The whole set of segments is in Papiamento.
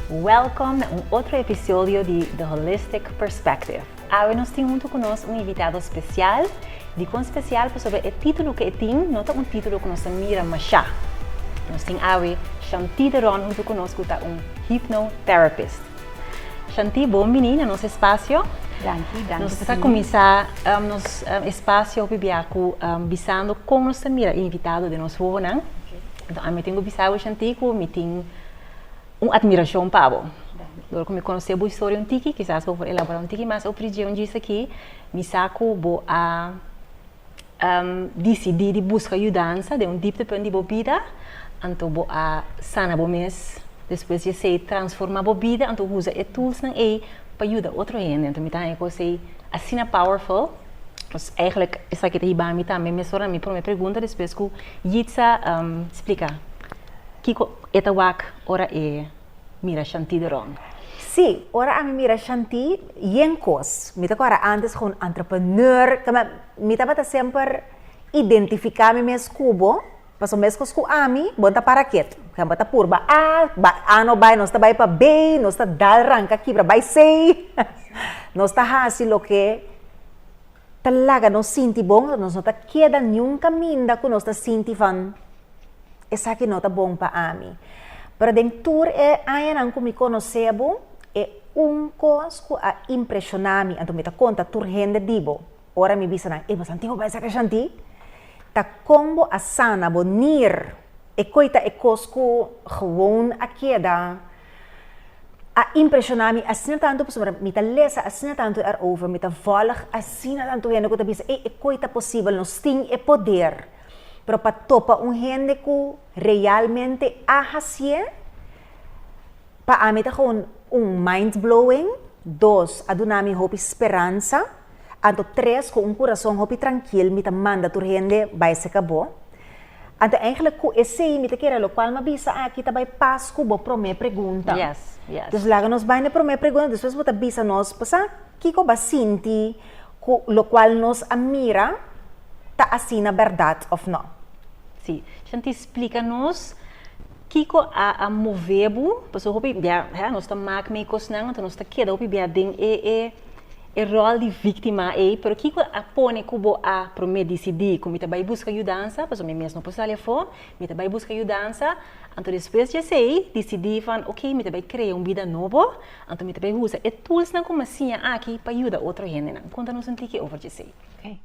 Welkom na un otro episodio di The Holistic Perspective. Awe nos tin huntu ku nos un invitado spesial. Dikon spesial? Pasobra e titulo ku e tin no ta un titulo ku nos ta mira mashá. Nos tin awe Shantide Ron huntu ku nos ku ta un Hypnotherapist. Shanti bon bini na nos espasio. Danki, danki. Nos ta kuminsá nos espasio hopi bia ku bisando kon nos ta mira e invitado den nos wowonan. Ami tin ku bisa bo Shanti ku mi tin un atmirashon pa bo. Dor ku mi konosé bo historia un tiki, kisas bo por elaborá un tiki mas over dje un djis aki, mi sa ku bo a. disidí di buska yudansa den un diptepunt di bo bida, anto bo a sana bo mes. Despues di esei transformá bo bida, anto usa e tulsnan ei pa yuda otro hende. Anto mi ta haña kos ei asina powerful. Pues eigenlijk esaki ta hiba mi tambe mes ora. Na mi promé pregunta despues ku Yitza splika kiko e ta wak ora e. mira Shanti di rond. Sí, ora ami mira Shanti, yen kos. Mi ta kòrda antes ku un entrepreneur, kamba mi tabata semper identifiká mi mes kubo, pasobra meskos ku ami, bo no ta para ketu. Bo ta purba A, A no bai, nos ta bai pa B, nos ta dal, ranka, kibra, bai C. Nos ta hasi loke. ta laga nos sinti bon, nos no ta keda niun kaminda ku nos ta sinti van esaki no ta bon pa ami. Pero den tur e añanan ku mi konosé bo, e un kos ku a impreshoná mi, anto mi ta konta tur hende di bo, ora mi bisa nan, ey bo Santiago bay sa kashantí? ta kon bo a sana bo nier. E koe ta e kos ku gewoon a keda. A impresiona mi asina tantu pasobra mi ta lesa asina tantu erover, mi ta volg asina tantu hende ku ta bisa ey e koi ta posibel, nos tin e poder. Pero pa topa un hende ku realmente a hasié, pa ami ta gewoon un mind-blowing, dos a duna mi hopi speransa. Anto tres ku un kurason hopi trankil mi ta manda tur hende bai seka bo. Anto eigenlijk ku esei mi ta kere lokual mi a bisa aki ta bai pas ku bo promé pregunta. Dus laga nos bai na e promé pregunta despues bo ta bisa nos pasá kiko bo a sinti ku lokual nos a mira ta asina bèrdat òf nò. Si. Shanti splika nos kiko a a move bo pasobra hopi bia nos ta mak mei kosnan anto nos ta keda hopi bia den e e. e ròl di víktima ei, pero kiko a pone ku bo a promé disidí ku mi ta bai buska yudansa, pasobra mi mes no por sali afó, mi ta bai buska yudansa, anto despues di esei disidí van oké mi ta bai krea un bida nobo, anto mi ta bai usa e toolsnan ku mi a siña aki pa yuda otro hendenan. Konta nos un tiki over djesei. Ok.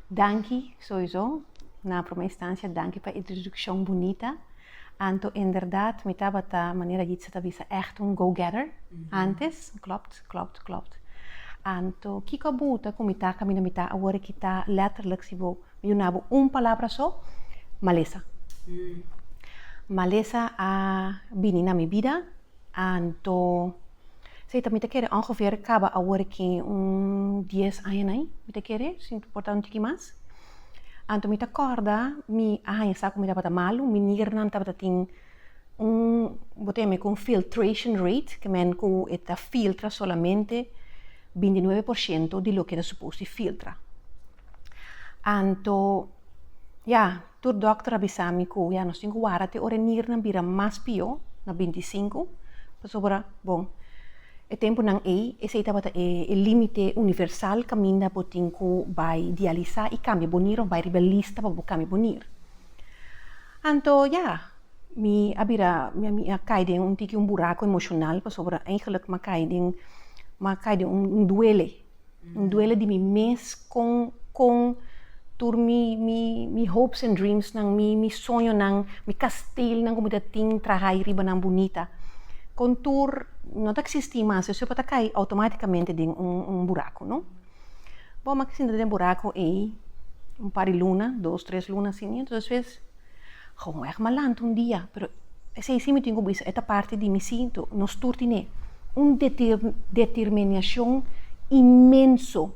Danki, souizou, na promé instansia danki pa e introdukshon bunita. Anto inderdat mi tabata, manera Jitse ta bisa, ègt un go-getter antes. Klopt, klopt, klopt. Anto kiko a buta ku mi ta kaminda mi ta awor e kita lètterlijk si bo yuna bo un palabra so? Malesa. Malesa a bini na mi bida Anto, si ta mi ta kere ongeveer kaba awor ki un dies aña na i, mi ta kere, si no ta importa un tiki mas. Anto mi ta kòrda mi a haña sa ku mi tabata malu, mi niggernan tabata tin un, bo ta yama ku un filtration rate, ke men ku e ta filtra solamente binti nuebe por shento di loke ta supos di filtra. Anto, ya. Tur dòkter a bisa mi ku ya nos tin ku wara te ora e niernan bira mas pió, na bintisinku, pasobra, bon, e tempunan ei esei tabata e límite universal kaminda bo tin ku bai dialisá i kambia bo nier òf bai riba lista pa bo kambia bo nier. Anto ya, mi a bira, mi a kai den un tiki un buraku emoshonal, pasobra, eigenlik m'a kai den, m'a kai den un duele. N duele di mi mes kon kon tur mi mi mi hopes and dreams nan, mi mi soño nan, mi kastel nan ku mi ta tin trahai riba nan bunita. Kon tur no ta eksistí mas esei pa ta kai outomatikamente den un un buraku, no. Bo, mi a sinta den buraku ei un par di luna, dos tres luna si mi, entonces. Gewoon e ma lanta un dia, pero esei si mi tin ku bisa e ta parti di mi sintu. Nos tur tin e un determinacion inmenso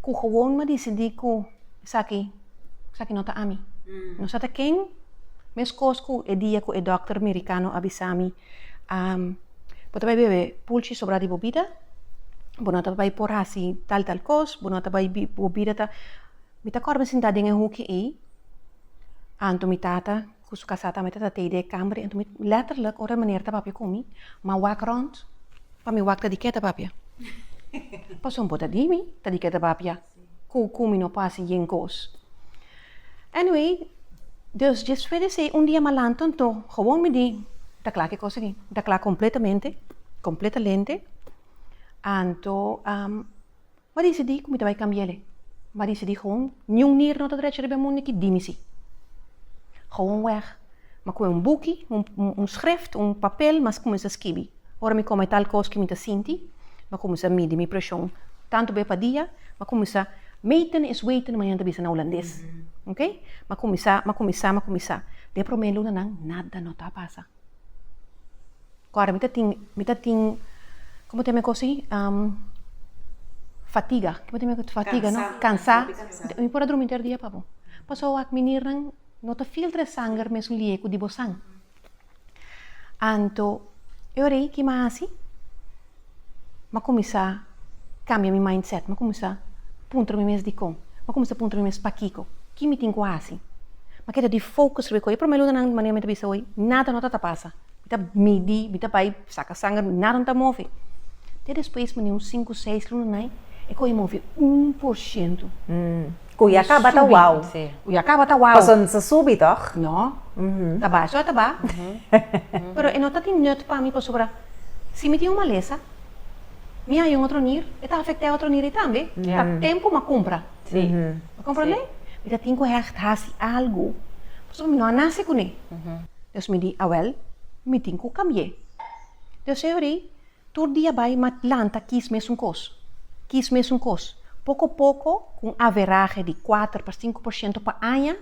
ku gewoon mi a disidí ku esaki, esaki no ta ami. No sa ta ken, meskos ku e dia ku e dòkter merikano a bisa mi, bo ta bai bebe pulchi sobrá di bo bida, bo no ta bai por hasi tal tal kos, bo no ta bai, bo bida ta. Mi ta kòrda mi sintá den e huki ei, anto mi tata ku su kasá tambe tabata tei di e kamer ei, anto mi lètterlik ora e meneer ta papia ku mi, m'a wak rònt, pa mi wak ta dik'é ta papia? Pasobra bo ta di mi ta dik'é ta papia ku ku mi no por hasi yen kos. Anyway, dus despues di esei un dia malantu anto gewoon mi di ta kla ki kos aki, mi ta kla kompletamente, kompletalente, anto. Bo a disidí ku mi ta bai kambia el e. Bo a disidí gewoon niun nier no ta drecha riba e munde ki di mi sí. Gewoon wèg, mi a kume un buki, un schrift, un papel, mi a kuminsá skibi. Ora mi kome tal kos ku mi ta sinti, mi a kuminsá midi mi preshon tantu bes pa dia, mi a kuminsá meten is weten, manera nan ta bisa na hulandes. Ok, mi a kuminsá, mi a kuminsá, mi a kuminsá. Den e promé lunanan nada no ta a pasa. Kòrda mi ta tin, mi ta tin, komo ta mi kosi? fatiga, komo ta mi kosi? Fatiga no, kansá, mi por a drumi inter dia, papu. Pasó wak minirnan no ta filtra e sanger mesun lieku di bosan. Anto, e ora ei, ki mi a hasi? M'a kuminsá kambia mi mindset. M'a kuminsá puntra mi mes dikon. M'a kuminsá puntra mi mes pakiko. Ki mi tin ku hasi? M'a keda di fokus riba e kos. E promé lunanan, di manera mi ta bisa hoy, nada no ta ta pasa. Mi ta midí, mi ta bai saka sanger, nada no ta move. Te despues, manera un sinku, seis lunanan, e kos a move un por shento. Cu ya caba ta wow. Sí. Cu ya caba ta wow. Paso no ta subi, toch? No. Ta ba, eso a ta ba. Pero e no ta di nut pa mi pasobra si mi tin un malesa, mi haya un otro nier, e ta afecta e otro nier ey tambe. Ta tempo m'a cumpra. Sí. Mi comprende? Mi ta tin cu hecht haci algo pasobra mi no a nace cune. Dus mi di, awel, mi tin cu cambi'é. Dios e horí. Tur dia bai ma planta kies mesun kos, kies mesun kos, poko poko ku un averahe di kuater pa sinku por shento pa aña,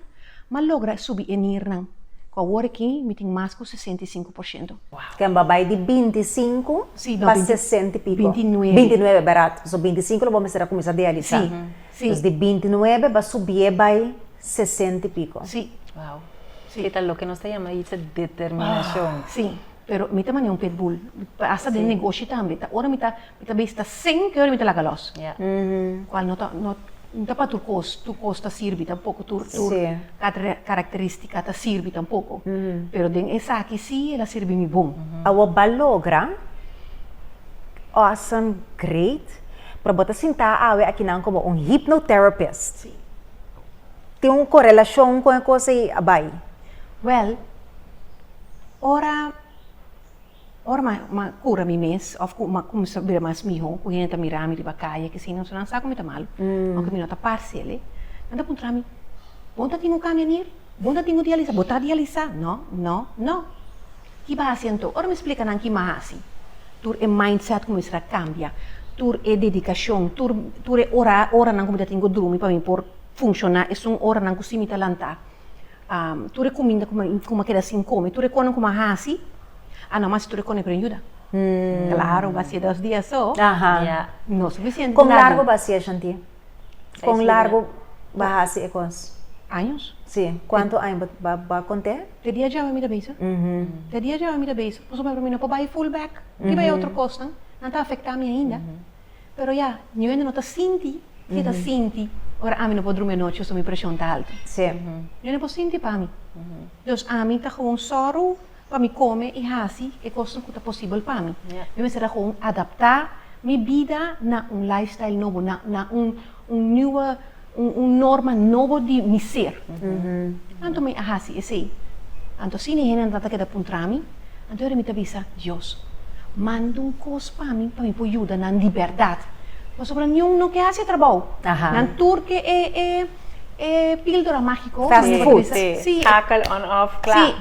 m'a logra subi e nirnan, ku awor aki mi tin mas ku sesenta i sinku por shento. Ken ba bai di binti i sinku pa sesenta i piko? Binti i nuebe. Binti i nuebe, berat. So binti i sinku lo bo mester a kuminsá dialisá. Si. Dus di binti i nuebe b'a subié bai sesenta i piko. Si. Wow. Keta loke nos ta yama ita determinashon. Si. Pero mi ta mane un pitbull, hasta den negoshi tambe, ta ora mi ta mi ta bes ta sing ke ora mi ta laga los, kual no ta no ta pa tur kos, tur kos ta sirbi tampoko, tur tur karakteristika ta sirbi tampoko, pero den esaki si el a sirbi mi bon. Awo ba logra, awesome, great, pero bo ta sinta awe akinan komo un hypnotherapist, tin un korelashon kon e kos ei a bai? Wèl. Ora ora m'a m'a cura mi mes of cu m'a cuminsa bira mas miho cu hende ta mirami riba calle aki asina so nan sa cu mi ta malo aunke mi no ta parce aley nan ta puntrami bo no ta tin un cambia nier? Bo no ta tin un dialisa? Bo ta dialisa? No no no ki ba haci anto? Ora mi splica nan ki m'a haci tur e mindset cuminsa ta cambia tur e dedicacion tur tur e ora oranan cu mi ta tin cu drumi pa mi por funciona esun oranan cu si mi ta lanta tur e kuminda ku mi ku mi a keda sin kome, tur e konan ku mi a hasi a na masi tur e konan a pidi yuda. Klaro, ba siña dos dia so no sufisiente. Kon largu ba siña, Shanti? Kon largu ba hasi e kos? Años. Si, kuantu aña bo bo kont'é? Te dia djawe mi ta bisa, te dia djawe mi ta bisa, pasobra pa mi no por bai full back, kiba e otro kosnan nan ta afektá mi ainda? Pero ya, mi wende no ta sinti ke ta sinti ora ami no por drumi e nochi pasobra mi preshon ta alto. Mi wende no por sinti pa mi. Los ami ta gewoon sòru pa mi kome i hasi e kosnan ku ta posibel pa mi. Mi mester a gewoon adaptá mi bida na un lifestyle nobo, na un niue. un norma nobo di mi ser. Anto mi a hasi esei. Anto si ni hende no trata keda puntra mi, anto era mi ta bisa, Dios, manda un kos pa mi pa mi por yuda nan di bèrdat. Pasobra niun no ke hasi e trabou. Nan tur ke e píldora mágiko. Fast food. Schakel on off, kla. Sí.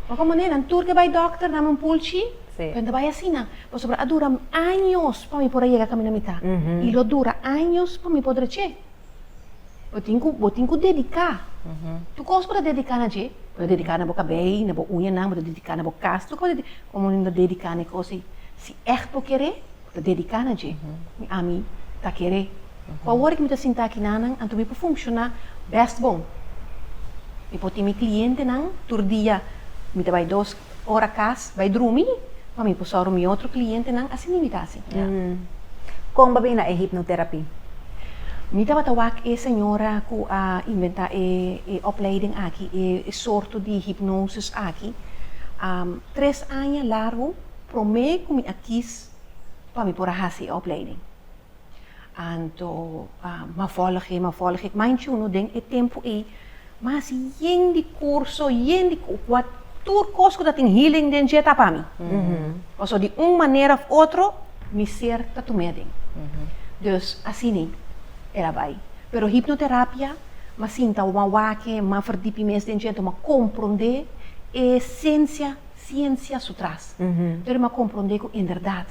Bo kon manera, nan tur ke bai dòkter, dame un pulchi. Sí. Pero no ta bai asina, pasobra a duram años pa mi por a yega kaminda mita. I lo dura años pa mi por dreche. Bo tin ku bo tin ku dediká. Tur kos ku bo ta dediká na dje. Bo ta dediká na bo kabei, na bo uñanan, bo ta dediká na bo kas, tur kos. Komo mi ta dediká na e kos ei? Si ègt bo kere, bo ta dediká na dje. Mi ami ta kere. Ku awor ku mi ta sinta aki nannan, anto mi por funshoná bèst bon. Mi por tin mi klientenan tur dia. Mi ta bai dos Ora cas bay drumi pa mi por soro mi otro clientenan a sininmi ta asi. Con bo a bini na e hypnotherapy? Mi tabata wak e señora cu a inventa e opleiding aki, e sorto di hypnosis aki, tres aña largu prome cu mi a kies pa mi por a haci e opleiding. Anto a ma vòlg'é, ma vòlg'é. Kma in chunu den e tempu ei mas yen di kurso, yen di ku, kua tur kos ku ta tin healing den dje ta pa mi. Pasobra di un manera òf otro mi ser ta tum'é aden. Dus asina el a bai. Pero hipnoterapia m'a sinta, m'a wak, m'a verdip'i mes den dje, anto m'a komprondé e esensia. Ciencia su tras. Pero m'a compronde cu inderdad.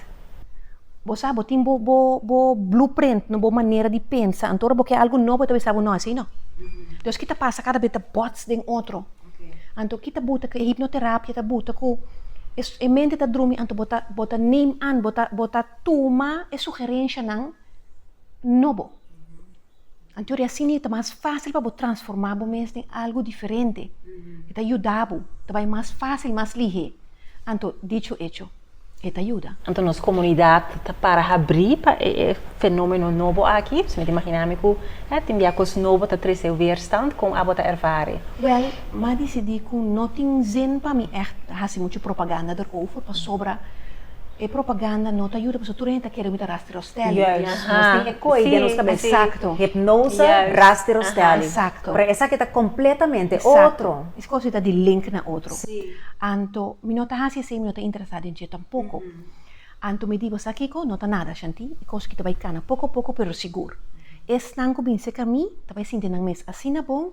Bo sa, bo tin bo, bo, bo blueprint, no bo manera di pensa. Anto ora bo ke algo nobo e ta bisa bo no asi no. Entonces ki ta pasa cada bes ta bots den otro. Anto ki ta buta cu e hipnoterapia ta buta cu e, e mente ta drumi anto bo ta, bo ta neem aan, bo ta, bo ta tuma e sugerencianan nobo. Anto di asina e ta mas fásil pa bo transformá bo mes den algu diferente. E ta yuda bo, ta bai mas fásil, mas lihé. Anto, dicho hecho, e ta yuda. Anto nos komunidat ta para habrí pa e fenómeno nobo aki? Pues mi ta imaginá mi ku tin bia kos nobo ta trese weerstand. Kon abo ta ervare? Wèl, m'a disidí ku no tin zin pa mi ègt hasi muchu propaganda derover pasobra e propaganda no ta yuda pasobra tur hende ta kere ku mi ta Rostelli. Yes. Nos tin e koi den nos kabes. Exacto. Hipnosa, Rusty Rostelli. Aha, exacto. Pero esaki ta completamente otro. Exacto. Es cos di ta di link na otro. Sí. Anto mi no ta haci así, mi no ta interesa den dje tampoco. Anto mi di bo, sa kico? No ta nada, shanti. E cos aki ta bay cana poco a poco pero sigur. Esnan cu bin seca mi, ta bay sinti nan mes asina bon.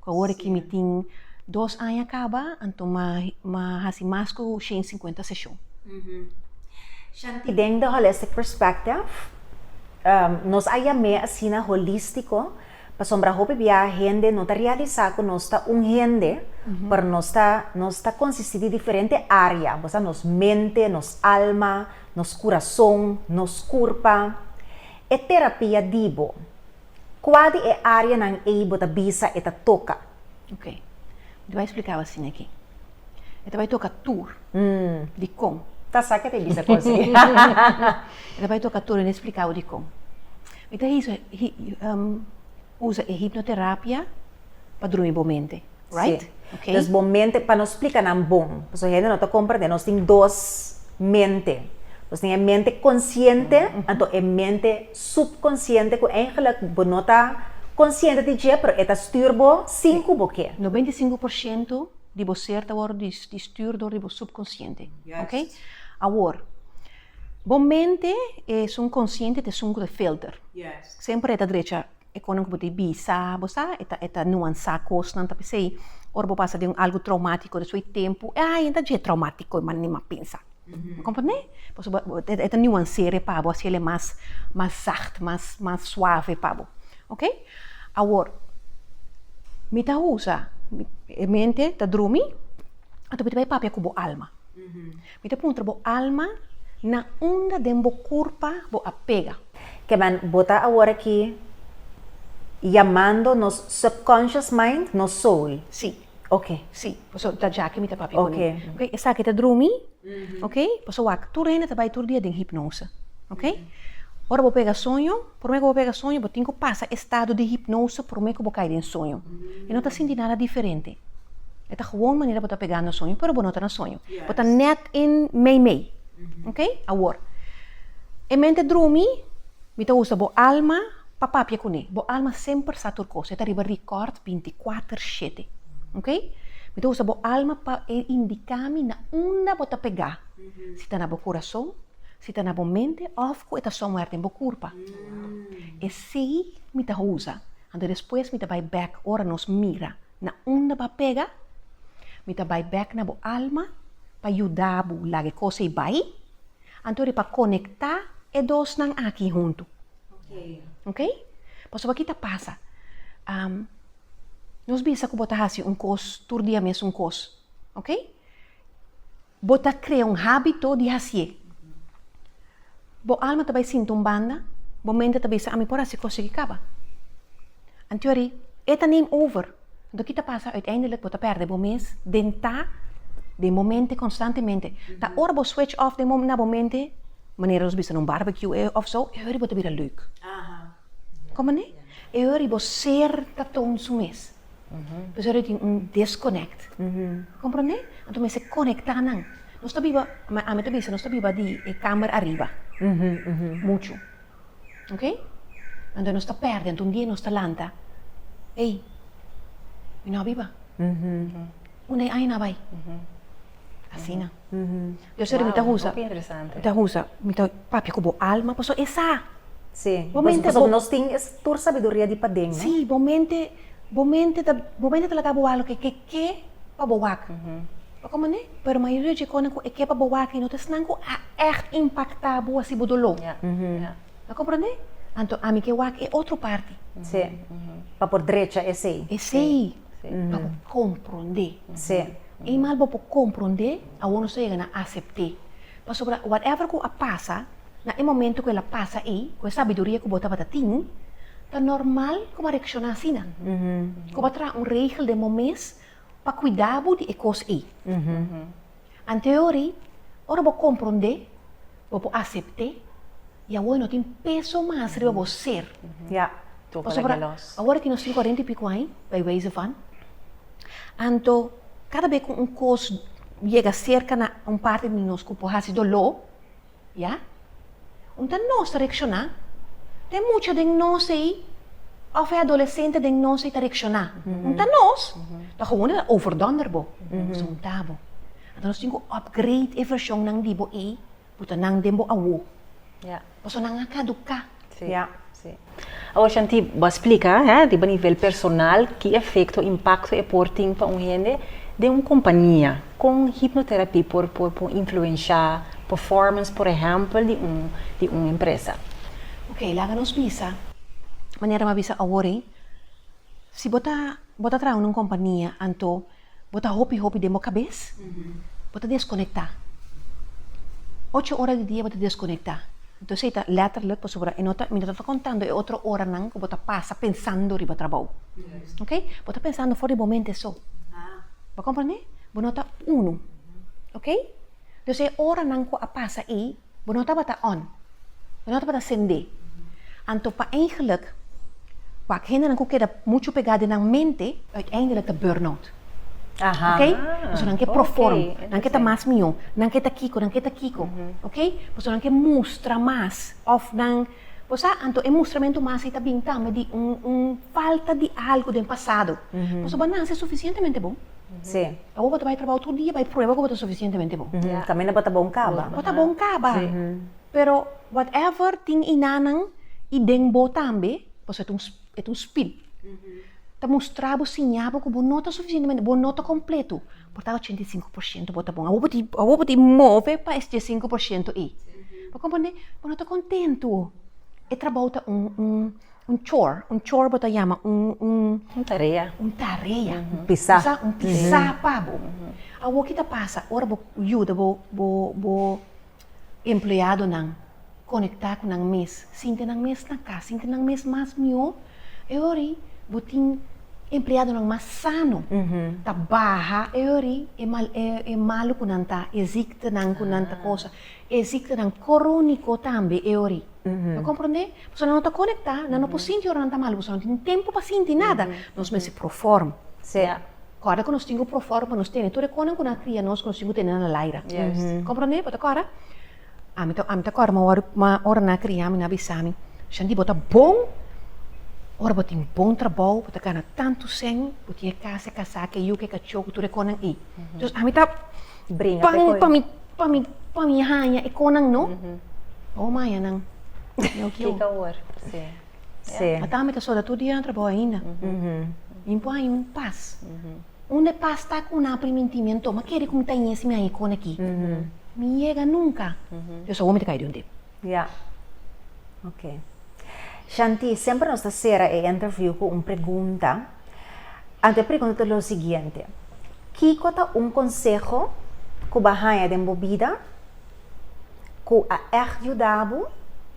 Cu awor ki mi tin dos aña caba, anto ma ma haci mas cu shen y cincuenta seshon. Shanti, den The Holistic Perspective, nos a yam'é asina holístico pasobra hopi bia hende no ta realisá ku nos ta un hende, pero nos ta nos ta konsisti di diferente área, bos a nos mente, nos alma, nos kurason, nos kurpa. E terapia di bo. Kua di e áreanan ei bo ta bisa e ta toka? Ok. Mi ta bai splikáu asin aki. E ta bai toka tur. Dikon? Ta sa ke ta e bisa kon si. E ta bai toka tur, mi no e splikáu dikon. Mi ta usa e hipnoterapia pa drumi bo mente. Si. Dus bo mente, pa no splika nan bon, pasobra hende no ta komprendé, nos tin dos mente. Nos tin e mente konsiente, anto e mente supkonsiente ku eigelik bo no ta konsiente di dje, pero e ta stür bo sin ku bo ke. Noventa i sinku por sientu di bo ser ta wòrdu di stür dor di bo supkonsiente. Ok? Awor, bo mente e sun konsiente, te sun ku ta filter. Semper e ta drecha E konan ku bo ta bisa, bo sa, e ta e ta nuansá kosnan, ta p'esei ora bo pasa den un algu traumático despues di tempu, ey, ay, no ta dje traumático, man ni m'a pensa. Bo komprendé? Pasobra bo bo e ta nuans'é re pa bo, hasiel e mas mas zacht, mas mas suave pa bo. Oké? Awor, mi ta usa, e mente ta drumi, anto mi ta bai papia ku bo alma. Mi ta puntra bo alma, Na unda den bo curpa bo a pega? Ke man, bo ta awor aki yamando nos subconscious mind, nos soul. Sí. Oke. Sí, paso ta djaki mi ta papia cu mi. Oke. Esaki ta drumi, oke, paso wak tur hende ta bay tur dia den hipnose, oke. Ora bo pega soño. Prome ku bo pega soño, bo tin ku pasa e stado di hipnose prome ku bo kai den soño. E no ta sinti nada diferente. E ta gewoon manera bo ta pegando soño, pero bo no ta na soño. Bo ta nèt in meimei. Oke? Awor, e mente drumi, mi ta usa bo alma pa papia kuné. Bo alma semper sa tur kos. E ta riba rikòrd binti kuater shete. Oke? Mi ta usa bo alma pa e indika mi na unda bo ta pegá. Si ta na bo kurason, Si ta na bo mente of cu e ta somewhere den bo curpa. E sey mi ta usa, anto despues mi ta bay back ora nos mira na unda ba pega, mi ta bay back na bo alma pa yuda bo laga e cos ey bay, antori pa conecta e dosnan aki hunto. Ok? Pasobra ki ta pasa? Nos bisa cu bo ta haci un cos tur dia mes un cos. Ok? Bo ta krea un hábito di hasié. Bo alma ta bai sinti un banda, bo mente ta bisa, Ami por hasi kosnan ki kaba. Anto ari, e ta neem over. Anto ki ta pasa? Uiteindelijk, bo ta pèrdè bo mes den ta den bo mente konstantemente. Ta ora bo switch off den bo, na bo mente, manera nos bisa na un barbecue, e ofso, e ora bo ta bira leuk. Como ne? E ora y bo ser ta toon su mes. Pues ora y tin un disconnect. Comprende? Anto mester conecta nan. Nos ta biba, ma ami ta bisa, nos ta biba di e kamer ariba. Mucho. Ok? Anto nos ta perde, anto un dia nos ta lanta, ey, mi no a biba. Unda e aña na bay? Asina. Yo ser mi ta husa, mi ta husa, mi ta papia ku bo alma, pasobra e sa. Sí, pasobra nos tin es tur sabiduria di paden, no? Sí, bo mente, bo mente ta, bo mente ta laga bo wak loke ke ke pa bo wak. Pa kon manera? Pero mayoria dje kosnan ku e ke pa bo wak i no ta esnan ku a ègt impaktá bo hasi bo doló. A komprendé? Anto ami ke wak e otro parti. Sí, pa por drecha esei. Esei. pa bo komprondé. I mas bo por komprondé, awor nos ta yega na asept'é. Pasobra whatever ku a pasa, na e momentu ku el a pasa ei, ku e sabiduria ku bo tabata tin, ta normal ku bo a reakshoná asina. Ku bo a traha un regel den bo mes pa kuidá bo di e kos ei. En teorí, ora bo komprondé, bo por asept'é i awor e no tin peso mas riba bo ser. Pasobra awor e tin nos tin kuarenta i piku aña, bai weze van. Anto, kada be ku un kos yega serka na un parti di nos ku por hasi doló, Ya? Un ta nos ta reakshoná? Te mucha den nos ei òf e adolesente den nos ei ta reakshoná? Un ta nos? Ta gewoon el a overdonder bo, zunta bo. Anto nos tin ku upgrade e vershonnan di bo ei puta nan den bo awo. Pasobra nan a kaduká. Sí. Ya. Sí. Awor Shanti, bo a splika, hè, riba nivel personal, ki efekto, impakto e por tin pa un hende den un kompania. Kon hipnoterapia por por por influenshá performance, por ehèmpel, di un di un empresa? Ok, laga nos bisa manera mi a bisa awor ei. Si bo ta bo ta traha na un kompania, anto Bo ta hopi hopi den bo kabes, bo ta deskonekta. Ocho ora di dia bo ta deskonekta. Entonces ei ta letterlijk pasobra e no ta, mi no ta ta kontando e otro oranan ku bo ta pasa pensando riba trabou. Oke? Bo ta pensando for di bo mente so. Bo a komprende? Bo no ta unu. Oke? Entonces e oranan ku a pasa ei. Bo no tabata on. Bo no tabata sendé. Anto pa eingelik, wak, hendenan ku keda muchu pegá den nan mente, uiteindelik ta burnout. Oké? Pasobra nan ke proform. Nan ke ta mas mihó. Nan ke ta kiko, nan ke ta kiko. Oké? Pasobra nan ke mustra mas òf nan. Bo sa, anto e mustramentu mas ei ta bini tambe di un un falta di algu den pasado. Pasobra bo a nase sufisientemente bon. Awor bo ta bai trabou tur dia bai prueba ku bo ta sufisientemente bon. Kaminda bo ta bon kaba. Bo ta bon kaba. Pero whatever tin einanan i den bo tambe, pasobra e ta un. e ta un spin. Ta mostra bo, siña bo ku bo no ta sufisientemente, bo no ta kompletu. Bo ta 85 por siento, bo ta bon. Awor bo ta, awor bo ta move pa es 5 por siento ei. Bo komprende? Bo no ta kontentu. E trabou ta un, un, un chore, un chore bo ta yama, un, un, Un tarea. un tarea, Pisá. sa, un pisá pa bo. Awor ki ta pasa, ora bo yuda bo, bo, bo Empleadonan konektá ku nan mes, sinti nan mes na kas, sinti nan mes mas mihó. E hori bo tin empleadonan mas sano, ta baha e hori e malu ku nan ta, e ziktenan ku nan ta kosa. E ziktenan króniko tambe e hori. Lo comprende? Pasobra nan no ta conecta, nan no por sinti ora nan ta malo, pasobra nan no tin tempo pa sinti nada. Nos mester proform. Sea. Corda cu nos tin cu proform pa nos tene tur e conan cu nan a cria nos cu nos tin cu tene nan na laira. Juist. Comprende? Bo ta corda? Ami ta, ami ta corda ma wor, ma ora nan a cria mi, nan a bisa mi, Shandy, bo ta bon, ora bo tin bon trabou, bo ta gana tantu cen, bo tin e casa, e casa aki, e yuke, e cachou cu tur e conan ei. Entonces, ami ta. bringa pe koe. Pan pa mi pa mi haña e konan no. Oh mayanan no kiu. Kiko awor si. Si. Ata mi ta soda tur dia na trabou ainda. Mi por haña un pas. Unda e pas ta ku nan priminti mi a ntoma kere ku mi ta ñe si mi haña e kona aki. Mi yega nunka. Dios awor mi ta kai di un dip. Ya oke. Shanti semper nos ta sera e interview ku un pregunta. Anto e pregunta ta lo siguiente, Kiko ta un konseho ku bo a haña den bo bida ku a ègt yuda bo,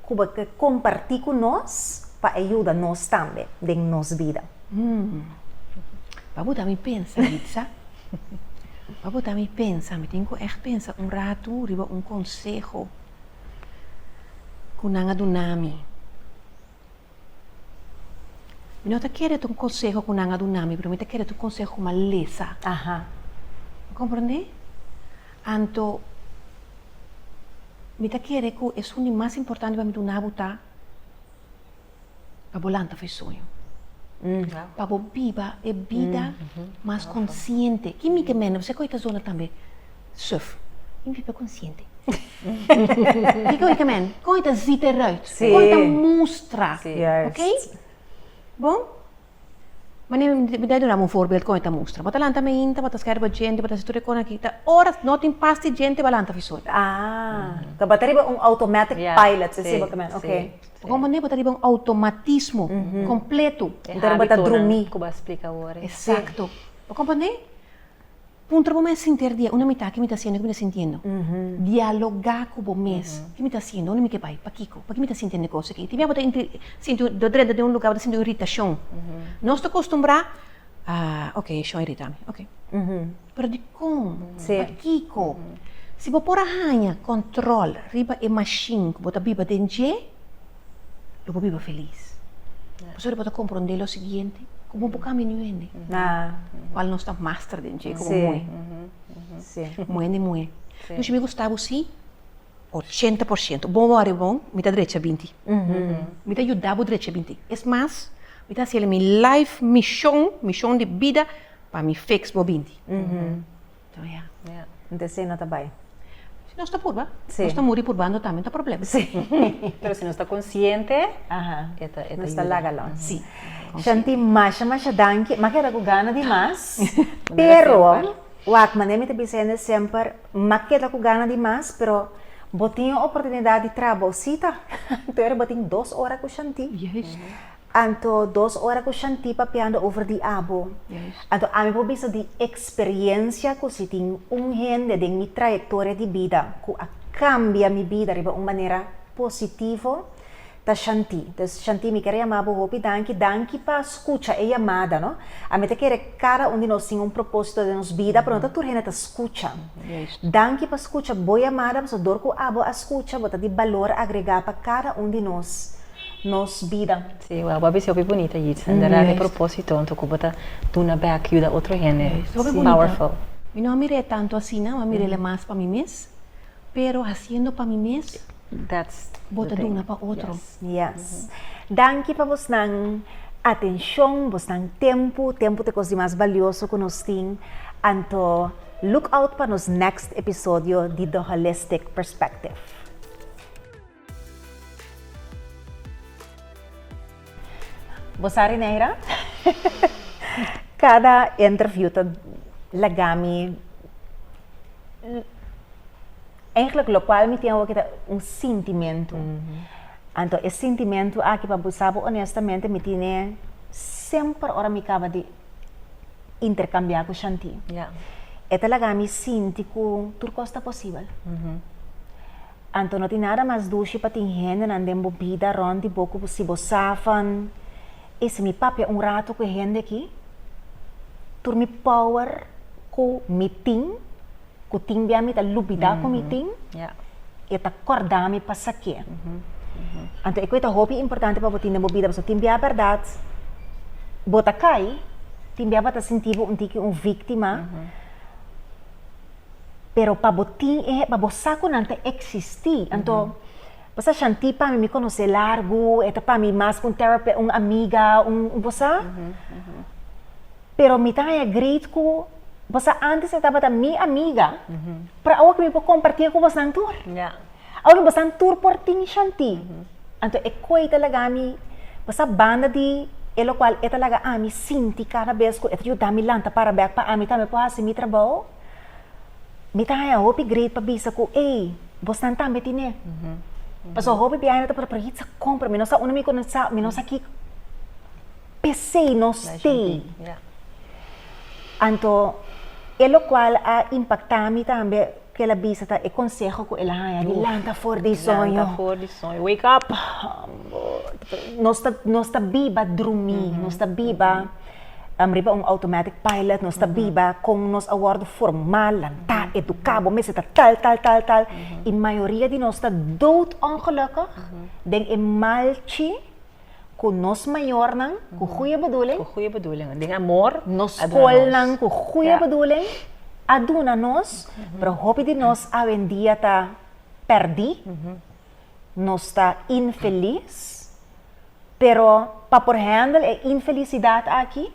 ku bo ke kompartí ku nos pa e yuda nos tambe den nos bida? Pa bota mi pensa, Ritza. Pa bota mi pensa. Mi tin ku ègt pensa un ratu riba un konseho ku nan a duna mi. Mi no ta kere tu konseho ku nan a duna mi, pero mi ta kere tu konseho ku malesa. Bo komprendé? Anto mi ta kere ku esun di mas importante pa mi duna bo ta pa bo lanta for e sueño. Pa bo biba e bida mas konsiente. Ki mi ke mende? Bo sa ku e ta duna tambe? Suf. Tin biba konsiente. Kiko i kamen? Kon i ta zipa e ruit? Kon i ta mustra? Ok? Bon, manera mi ta duna bo un forbelt kon i ta mustra. Bo ta lanta mainta, bo ta skèrba djente, bo ta hasi tur e kos aki. Ta ora no tin pas di djente bo lanta fisur. Ta ba ta riba un automatic pilot, e siba kamen? Ok. Bo kon manera bo ta riba un automatismo kompletu. E habitonan ku bo a splika awor. Eksakto. Bo komprendé? Puntra bo mes sinter di e una mitá, Ke mi ta hasiendo? Ke mi ta sintiendo? Dialogá ku bo mes, Ke mi ta hasiendo? Unda mi ke bai? Pakiko? Pake mi ta sintiendo e kos aki? Tin bia bo ta sinti un, ta drenta den un lugá, bo ta sinti un iritashon. Nos ta kostumbrá, Ah, ok, e shon a iritá mi. Ok. Pero dikon? Pakiko? Si bo por a haña kòntròl riba e mashin ku bo ta biba den dje. lo bo biba felis. Pastori bo ta kompronde lo siguiente, ku bo por kambia niño hende. Kual nos ta master den dje, komo muhé. Muhé hende muhé. Dushi mi gusta bo si ochenta por siento. Bo wòrdu bon, mi ta drecha binti. Mi ta yuda bo drecha binti. Es mas, mi ta hasiel mi life mishon, mishon di bida, pa mi feks bo binti. Nte esei no ta bai. Si nos ta purba, nos ta muri purbando tambe no ta problema. Pero si nos ta konsiente e ta yuda. Nos ta laga lo. Si. Shanti masha masha danki. M'a keda ku gana di mas. Pero wak manera mi ta bisa hende semper m'a keda ku gana di mas pero bo tin e oportunidat di trabou sita. Tur bo tin dos ora ku Shanti. Anto dos ora ku Shanti papiando over di abo, anto ami por bisa di eksperiencia ku si tin un hende den mi trayektoria di bida ku a kambia mi bida riba un manera positivo, ta Shanti. Entonces Shanti mi kere yama bo hopi danki, danki pa skucha e yamada, no. Ami ta kere kada un di nos tin un propósito den nos bida, pero no ta tur hende ta skucha. Danki pa skucha bo yamada, pasobra dor ku abo a skucha bo ta di balor agregá pa kada un di nos. nos bida. Sí, wao bo a bisa hopi bunita Yitz, en berdad e propósito anto cu bo ta duna bek, yuda otro hende, es powerful. Mi no a mir'é tanto asina, mi a mir'é mas pa mi mes, pero haciendo pa mi mes, bo ta duna pa otro. Yes. Danki pa bosnan atencion, bosnan tempu, tempu ta e cos di mas balioso cu nos tin, anto look out pa nos next episodio di The Holistic Perspective. Bo sa Rineira? Kada interview ta laga mi Eigenlijk lokual mi tin awoki ta un sintimentu. Anto e sintimentu aki pa bisa bo onestamente mi tine semper ora mi kaba di interkambia ku Shanti. E ta laga mi sinti ku tur kos ta posibel. Anto no tin nada mas dushi pa tin hendenan den bo bida rònt di bo ku si bo sa van, I si mi papia un ratu ku e hende aki, tur mi power ku mi tin, ku tin bia mi ta lubidá ku mi tin, e ta kòrda mi pasakié. Anto e ku e ta hopi importante pa bo tin den bo bida, pasobra tin bia bèrdat bo ta kai, tin bia bo ta sinti bo un tiki un víktima. pero pa bo tin e, pa bo sa ku nan ta eksistí. Anto, bo sa, Shanti pa mi mi konos'é largu, e ta pa mi mas ku un terape, un amiga, un, bo sa. Pero mi ta haña great ku, bo sa, antes e tabata mi amiga, pero awo ke mi por kompartié ku bosnan tur. Awo ke bosnan tur por tin Shanti. Anto e koi ta laga mi, bo sa, banda di e lokual e ta laga ami sinti kada bes ku e ta yuda mi lanta para bèk pa ami tambe por hasi mi trabou. Mi ta haña hopi great pa bisa ku ey, bos nan tambe tine. Pasobra hopi biaha nan ta por ritz a kompra, mi no sa unda mi komensá, mi no sa ki p'esei no stay. Anto e lokual a impaktá mi tambe, ku el a bisa ta e konseho ku el a haña di lanta for di soño. Lanta for di soño, wake up! Nos ta biba drumí, nos ta biba. riba un automatic pilot nos ta biba kon nos a wòrdu formal, lantá, eduká, bo mester ta tal, tal, tal, tal, i mayoria di nos ta dood ongèlùkig den e malchi ku nos mayornan ku goeie bedulin, nos skolnan ku goeie bedulin a duna nos, pero hopi di nos awendia ta pèrdì. nos ta infelis, pero pa por handle e infelisidat aki,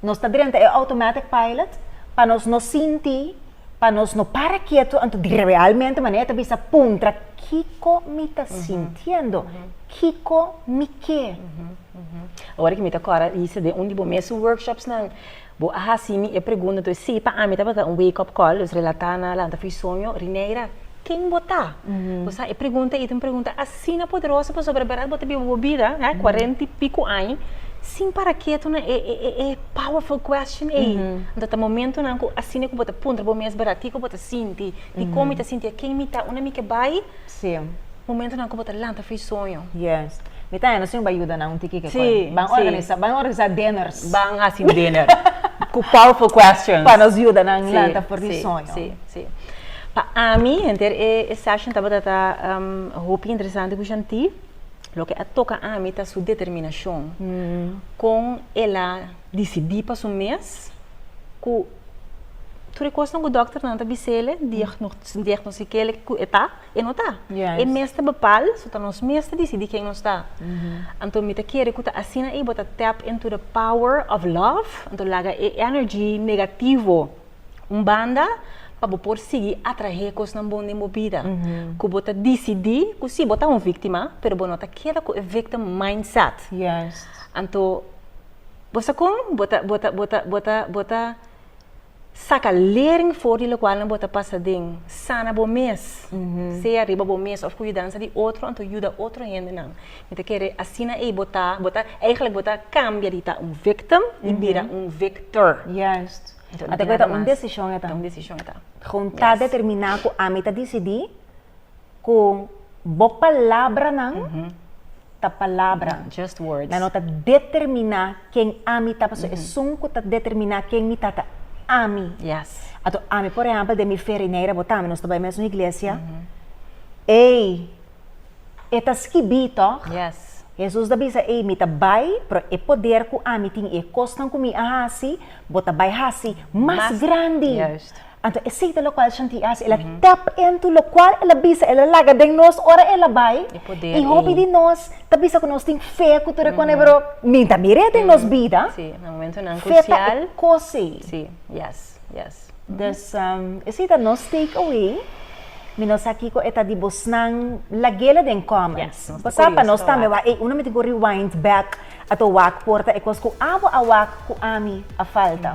nos ta drenta e automatic pilot pa nos no sinti, pa nos no para ketu anto di realmente manera e ta bisa puntra kiko mi ta sintiendo, kiko mi ke. Ora ki mi ta kòrda, Isa, den un di bo mes su workshopsnan, Bo a hasi mi e pregunta entonces si pa ami tabata un wake up call los relata na lanta for e soño Rineira ken bo ta? bo sa e pregunta ei ta un pregunta asina poderoso pasobra berdad bo ta biba bo bida he cuarenta y pico aña sin para ketu na e powerful question ei anto ta momentonan ku asina ku bo ta puntra bo mes berdad kiko bo ta sinti dikon mi ta sinti a ken mi ta unda mi ke bai? Sí. Momentonan ku bo ta lanta fris soño. Yes. Mi ta hende sin bo a yuda nan un tiki ke koe. Ban organisa, ban organisa diners. Ban hasi un diner ku powerful questions. Pa nos yuda nan lanta for di soño. Sí, sí, sí. Pa ami henter e session tabata ta hopi interesante ku shanti. Loke a toka ami ta su determinashon kon el a. Disidí pa su mes ku tur e kosnan ku dòkternan ta bise'e, diagnostike'e ku e ta, e no ta. E mes ta bepal, so ta nos mes ta disidí ken nos ta. Anto mi ta kere ku ta asina ei bo ta tap into the power of love, anto laga e energy negativo un banda pa bo por sigui atrahe kosnan bon den bo bida. Ku bo ta disidí ku si, bo ta un víktima pero bo no ta keda ku e victim mindset. Anto. Bo sa kon? Bo ta, bo ta, bo ta, bo ta, bo ta saka lering for di lokualnan bo ta pasa den. Sana bo mes, sea riba bo mes òf ku yudansa di otro anto yuda otro hendenan. Mi ta kere asina ei bo ta, bo ta, eigelik bo ta kambia di ta un victim i bira un victor. Juist. Ora ta bira mas. Ora ta un desishon e ta. Ta un desishon e ta. Gon ta determiná ku ami ta disidí. ku bo palabranan ta palabra, nan no ta determiná ken ami ta, pasobra esun ku ta determiná ken mi ta ta ami. Anto ami, por ehèmpel, den mi fe Rineira, bo tambe nos ta bai mesun iglesia, ei, e ta skibí tòg? Hesus a bisa, ei, mi ta bai, pero e poder ku ami tin i e kosnan ku mi a hasi, bo ta bai hasi mas grandi. Anto esei ta lokual Shanti a hasi, el a tap into lokual el a bisa, el a laga den nos ora el a bai i hopi di nos ta bisa ku nos tin fe ku tur e kone pero mi ta mir'e den nos bida fe ta e kos ei. Des esei ta nos take away, mi no sa kiko e ta di bosnan lag'e la den comments pasá pa nos tambe wak ei uno mi tin ku rewind back ato wak por ta e kos ku abo a wak ku ami a falta.